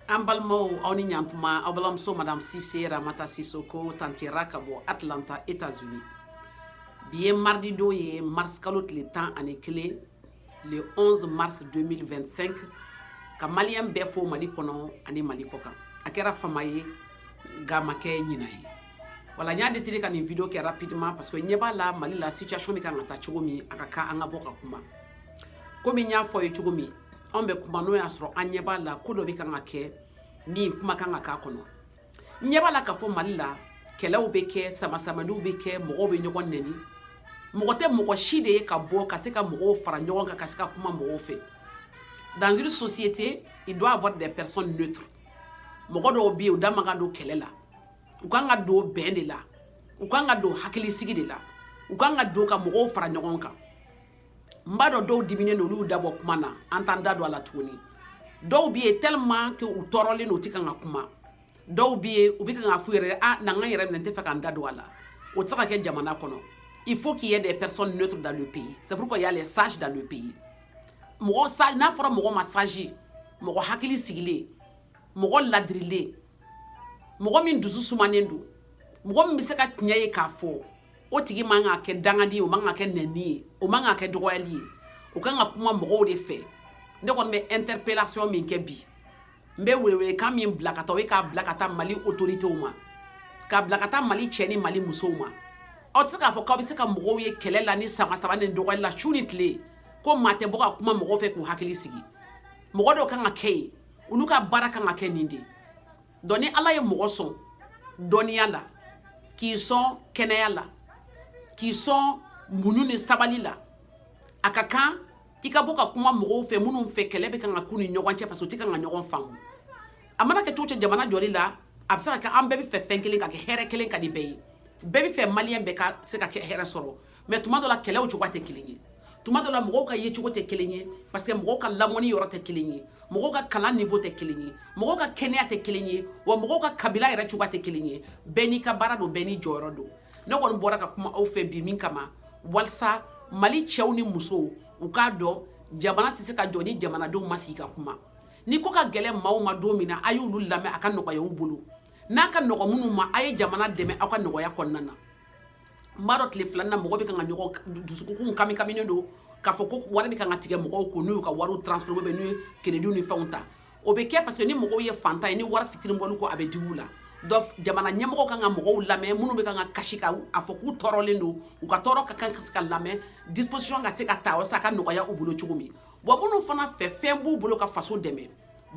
an balimaw aw ni ɲatuma aw balimamuso madame cissé ramata sissoko tanti ra ka bɔ atlanta états-unis bi ye mardi don ye marisikalo tile tan ani kelen le 11 mars 2025 ka maliyɛn bɛɛ fo mali kɔnɔ ani mali kɔ kan a kɛra fama ye nka a ma kɛ ɲina ye voilà n y'a décidé ka nin vidéo kɛ rapidement parce que n ɲɛ b'a la mali la situation bɛ kan ka taa cogo min a ka kan an ka bɔ ka kuma kɔmi n y'a fɔ aw ye cogo min anw bɛ kuma n'o y'a sɔrɔ an ɲɛ b'a la ko dɔ bɛ kan ka kɛ min kuma kan ka k'a kɔnɔ n ɲɛ b'a la k'a fɔ mali la kɛlɛw bɛ kɛ samasamaliw bɛ kɛ mɔgɔw bɛ ɲɔgɔn nɛni mɔgɔ tɛ mɔgɔ si tɛ yen ka bɔ ka se ka mɔgɔw fara ɲɔgɔn kan ka se ka kuma mɔgɔw fɛ dans une société il doit avoir des personnes neutres mɔgɔ dɔw bɛ yen u da man ka don kɛlɛ la u kan ka don bɛn de la u kan ka don hakilisigi de la u kan ka don ka mɔgɔw fara ɲɔgɔn kan n b'a dɔn dɔw diminen don olu da bɔ kuma na an t'an da don a la tuguni dɔw bɛ yen tellement que u tɔɔrɔlen don u tɛ kan ka kuma dɔw bɛ yen u bɛ kan k'a f'u yɛrɛ ye ah n ka n yɛrɛ minɛ n t'a fɛ ka n da don a la o tɛ se ka kɛ jamana kɔnɔ il faut qu'il y ait des personnes neutres dans le pays c'est pourquoi il y a les sages dans le pays mɔgɔ sage n'a fɔra mɔgɔ ma sage mɔgɔ hakili sigilen mɔgɔ ladirilen mɔgɔ min dusu sumanen don mɔgɔ min bɛ se ka tiɲɛ ye k'a fɔ o tigi man ka kɛ dangadi ye o man ka kɛ nɛni ye o man ka kɛ dɔgɔyali ye o kan ka kuma mɔgɔw de fɛ ne kɔni bɛ interpellation min kɛ bi n bɛ welewelekan min bila ka taa o ye k'a bila ka taa mali autoritéw ma k'a bila ka taa mali cɛ ni mali musow ma aw tɛ se k'a fɔ k'aw bɛ se ka mɔgɔw ye kɛlɛ la ni sama sama ni dɔgɔyali la su ni tile ko maa tɛ bɔ ka kuma mɔgɔw fɛ k'u hakili sigi mɔgɔ dɔw kan ka kɛ yen olu ka baara kan ka kɛ nin de ye donc ni ala ye mɔgɔ sɔn dɔnniya la k'i sɔn kɛnɛya la k'i sɔn muɲu ni sabali la a ka kan i ka bɔ ka kuma mɔgɔw fɛ minnu fɛ kɛlɛ bɛ kan ka k'u ni ɲɔgɔn cɛ parce que u tɛ kan ka ɲɔgɔn faamu a mana kɛ cogo cogo jamana jɔli la a bɛ se ka kɛ an bɛɛ bɛ fɛ fɛn kelen ka kɛ hɛrɛ kelen ka di bɛɛ ye bɛɛ bɛ fɛ maliyɛn bɛɛ ka se ka kɛ hɛrɛ sɔrɔ mais tuma dɔ la kɛlɛw cogoya tɛ kelen ye tuma dɔ la mɔgɔw ka yecogo tɛ kelen ye parce que mɔgɔw ka lamɔni yɔrɔ tɛ kelen ye mɔgɔw ka kalan niveau tɛ kelen ye mɔgɔw ka kɛnɛya tɛ kelen ye wa mɔgɔw ka kabila yɛrɛ cogoya tɛ kelen ye bɛɛ n'i ka baara don bɛɛ n'i jɔyɔrɔ don ne kɔni bɔra ka kuma aw fɛ bi min kama walisa mali cɛw ni musow u k'a dɔn jamana tɛ se ka jɔ ni jamanadenw ma sigi ka kuma ni ko ka gɛlɛ maaw ma don min na a y'olu lamɛn a ka nɔgɔya u bolo n'a ka nɔgɔ minnu ma a ye jamana dɛmɛ aw ka nɔgɔya kɔnɔna na n b'a dɔn tile fila in na mɔgɔ bɛ kan ka ɲɔgɔn dusukun kami kaminen don k'a fɔ ko wari bɛ kan ka tigɛ mɔgɔw kun n'u y'u ka wariw transformer bɛ n'u ye créditw ni fɛnw ta o bɛ kɛ parce que ni mɔgɔw ye fantan ye ni wari fitinin bɔl'u kun a bɛ digi u la donc jamana ɲɛmɔgɔ kan ka mɔgɔw lamɛn minnu bɛ kan ka kasi ka a fɔ k'u tɔɔrɔlen don u ka tɔɔrɔ ka kan ka se ka lamɛn disposition ka se ka ta walasa a ka nɔgɔya u bolo cogo min wa minnu fana fɛ fɛn b'u bolo ka faso dɛmɛ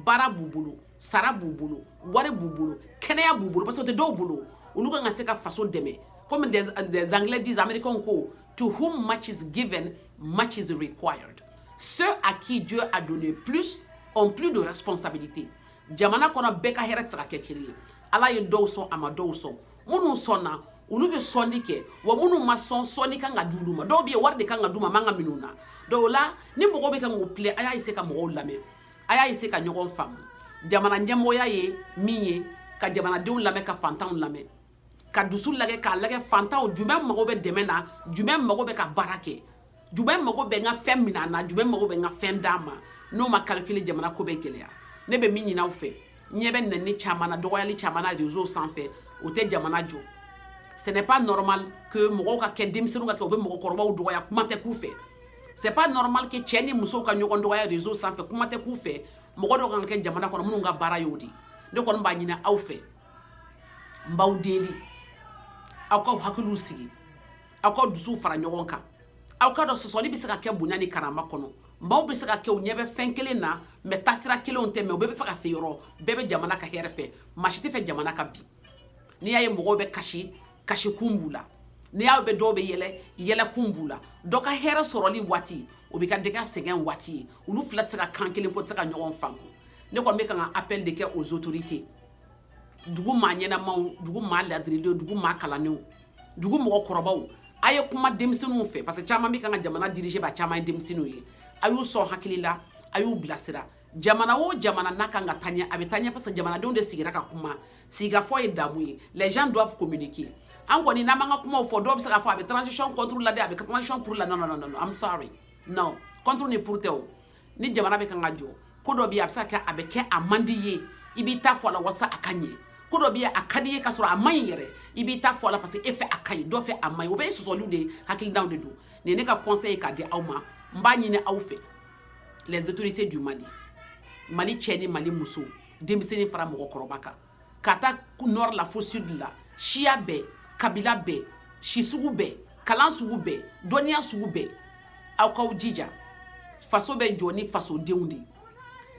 baara b'u bolo sara b'u bolo wari b'u bolo kɛnɛya b'u bolo parce que o tɛ dɔw bolo olu kan ka se ka faso dɛmɛ comme des, des anglais disent américains ko to whom much is given much is required ceux à qui Dieu a donné plus ont plus de responsabilité jamana kɔnɔ bɛɛ ka hɛrɛ tɛ se ka kɛ kelen ye ala ye dɔw sɔn a ma dɔw sɔn minnu sɔnna olu bɛ sɔnni kɛ wa minnu ma sɔn sɔnni kan ka d'olu ma dɔw bɛ yen wari de kan ka d'u ma a man ka minɛ u na donc o la ni mɔgɔw bɛ kan k'u plaint a y'a essayer ka mɔgɔw lamɛn a y'a essayer ka ɲɔgɔn faamu jamana ɲɛmɔgɔya ye min ye ka jamanadenw lamɛn ka fantanw lamɛn ka dusu lagɛ k'a lagɛ fantanw jumɛn mago bɛ dɛmɛ na jumɛn mago bɛ ka baara kɛ jumɛn mago bɛ n ka fɛn minɛ a na jumɛn mago bɛ n ka fɛn d'a ma n'o ma calculer jamana ko bɛ gɛlɛya ne bɛ min ɲini aw fɛ ɲɛ bɛ nɛni caman na dɔgɔyali caman na réseau sanfɛ o tɛ jamana jɔ ce n'est pas normal que mɔgɔw ka kɛ denmisɛnninw ka kɛ u bɛ mɔgɔkɔrɔbaw dɔgɔya kuma tɛ k'u fɛ c'est pas normal que cɛ ni musow ka ɲɔgɔn dɔgɔya réseau sanfɛ kuma tɛ k'u fɛ mɔgɔ dɔw kan ka kɛ jamana kɔnɔ minnu ka baara y'o di ne kɔni b'a ɲini aw fɛ n b'aw deli aw k'aw hakiliw sigi aw ka dusu fara ɲɔgɔn kan aw k'a dɔn sɔsɔli bɛ se ka kɛ bonya ni karama kɔnɔ maaw bɛ se ka kɛ u ɲɛ bɛ fɛn kelen na mais taasira kelenw tɛ mais u bɛɛ b'a fɛ ka se yɔrɔ bɛɛ bɛ jamana ka hɛrɛ fɛ maa si t'a fɛ jamana ka bin n'i y'a ye mɔgɔw bɛ kasi kasikun b'u la n'i y'a bɛ dɔw bɛ yɛlɛ yɛlɛkun b'u la dɔ ka hɛrɛ sɔrɔli waati o bɛ kɛ dɔ ka sɛgɛn waati ye olu fila tɛ se ka kan kelen fɔ tɛ se ka ɲɔgɔn faamu ne kɔni bɛ kan ka appel de kɛ aux autorités dugu maa ɲɛnamaw dugu maa ladirilenw dugu maa kalannenw dugu mɔgɔkɔrɔbaw a ye kuma denmisɛnninw fɛ parce que caman bɛ kan ka jamana diriger bi a caman ye denmisɛnninw ye a y'u sɔn hakili la a y'u bilasira jamana o jamana n'a kan ka taa ɲɛ a bɛ taa ɲɛ parce que jamanadenw de sigira ka kuma sigikafɔ ye damu ye les gens doivent communiquer an kɔni n'an b'an ka kumaw fɔ dɔw bɛ se k'a fɔ a bɛ transition contre la dɛ a bɛ transition pour la non non non non I'm sorry non contre ni pour tɛ o ni jamana bɛ kan ka jɔ ko dɔ bɛ yen a bɛ se ka kɛ a bɛ kɛ a man d'i ye i b'i ta fɔ a la walasa a ka ɲɛ ko dɔ bɛ yen a ka d'i ye ka sɔrɔ a man ɲi yɛrɛ i b'i ta fɔ a la parce que e fɛ a ka ɲi dɔ fɛ a man ɲi o bɛɛ ye sɔsɔliw de ye hakilinaw de don nin ye ne ka conseil ye k'a di aw ma n b'a ɲini aw fɛ les autorités du Mali mali cɛ ni mali muso denmisɛnnin fara mɔgɔkɔrɔba kan ka taa nord la fo sud la siya bɛɛ kabila bɛɛ si sugu bɛɛ kalan sugu bɛɛ dɔnniya sugu bɛɛ aw k'aw jija faso bɛ jɔ ni fasodenw de ye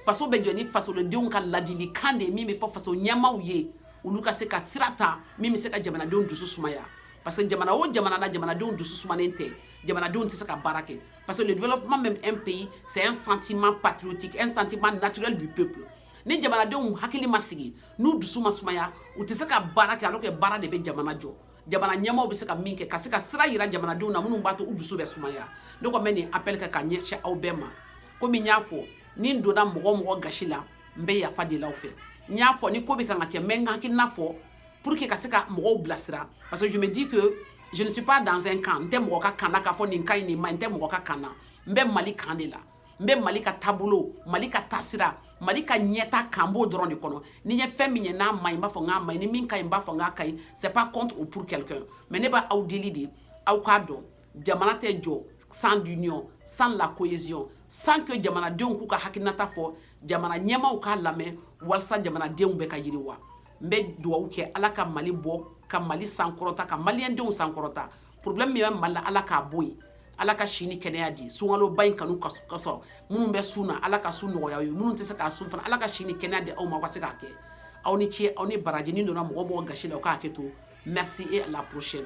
faso bɛ jɔ ni fasodenw ka ladilikan de ye min bɛ fɔ faso ɲɛmaaw ye olu ka se ka sira ta min bɛ se ka jamanadenw dusu sumaya parce que jamana o jamana n'a jamanadenw dusu sumanen tɛ jamanadenw tɛ se ka baara kɛ parce que le développement même un pays c'est un sentiment patriotique un sentiment naturel du peuple ni jamanadenw hakili ma sigi n'u dusu ma sumaya u tɛ se ka baara kɛ alors que baara de bɛ jamana jɔ jamana ɲɛmaaw bɛ se ka min kɛ ka se ka sira yira jamanadenw na minnu b'a to u dusu bɛ sumaya ne kɔni bɛ nin appel kɛ ka ɲɛsin aw bɛɛ ma komi n y'a fɔ ni n donna mɔgɔ o mɔgɔ gasi la n bɛ yafa deli aw fɛ n y'a fɔ ni ko bɛ kan ka kɛ n bɛ n ka hakilina fɔ pour que ka se ka mɔgɔw bilasira parce que je me dis que je ne suis pas dans un camp n tɛ mɔgɔ ka kan na k'a fɔ nin ka ɲi nin ma ɲi n tɛ mɔgɔ ka kan na n bɛ mali kan de la n bɛ mali ka taabolo mali ka taasira mali ka ɲɛtaa kan n b'o dɔrɔn de kɔnɔ ni n ye fɛn min ye n'a ma ɲi n b'a fɔ k'a ma ɲi ni min ka ɲi n b'a fɔ k'a ka ɲi c'est pas contre ou pour quelqu'un mais ne bɛ aw deli de aw k'a dɔn jamana tɛ jɔ sans l'union sans la cohésion sans que jamanadenw k'u ka hakilinata fɔ jamana ɲɛmaaw k'a lamɛn walasa jamanadenw bɛɛ ka yiriwa n bɛ dugawu kɛ ala ka mali bɔ ka mali sankɔrɔta ka maliyɛndenw sankɔrɔta problème min bɛ mali la ala k'a bɔ yen ala ka si ni kɛnɛya di sunkaloba in k'anw k'a sɔrɔ minnu bɛ sun na ala ka sun nɔgɔya u ye minnu tɛ se k'a sun fana ala ka si ni kɛnɛya di aw ma aw ka se k'a kɛ aw ni ce aw ni baraji ni n donna mɔgɔ o mɔgɔ gasi la o ka hakɛ to merci et à la prochaine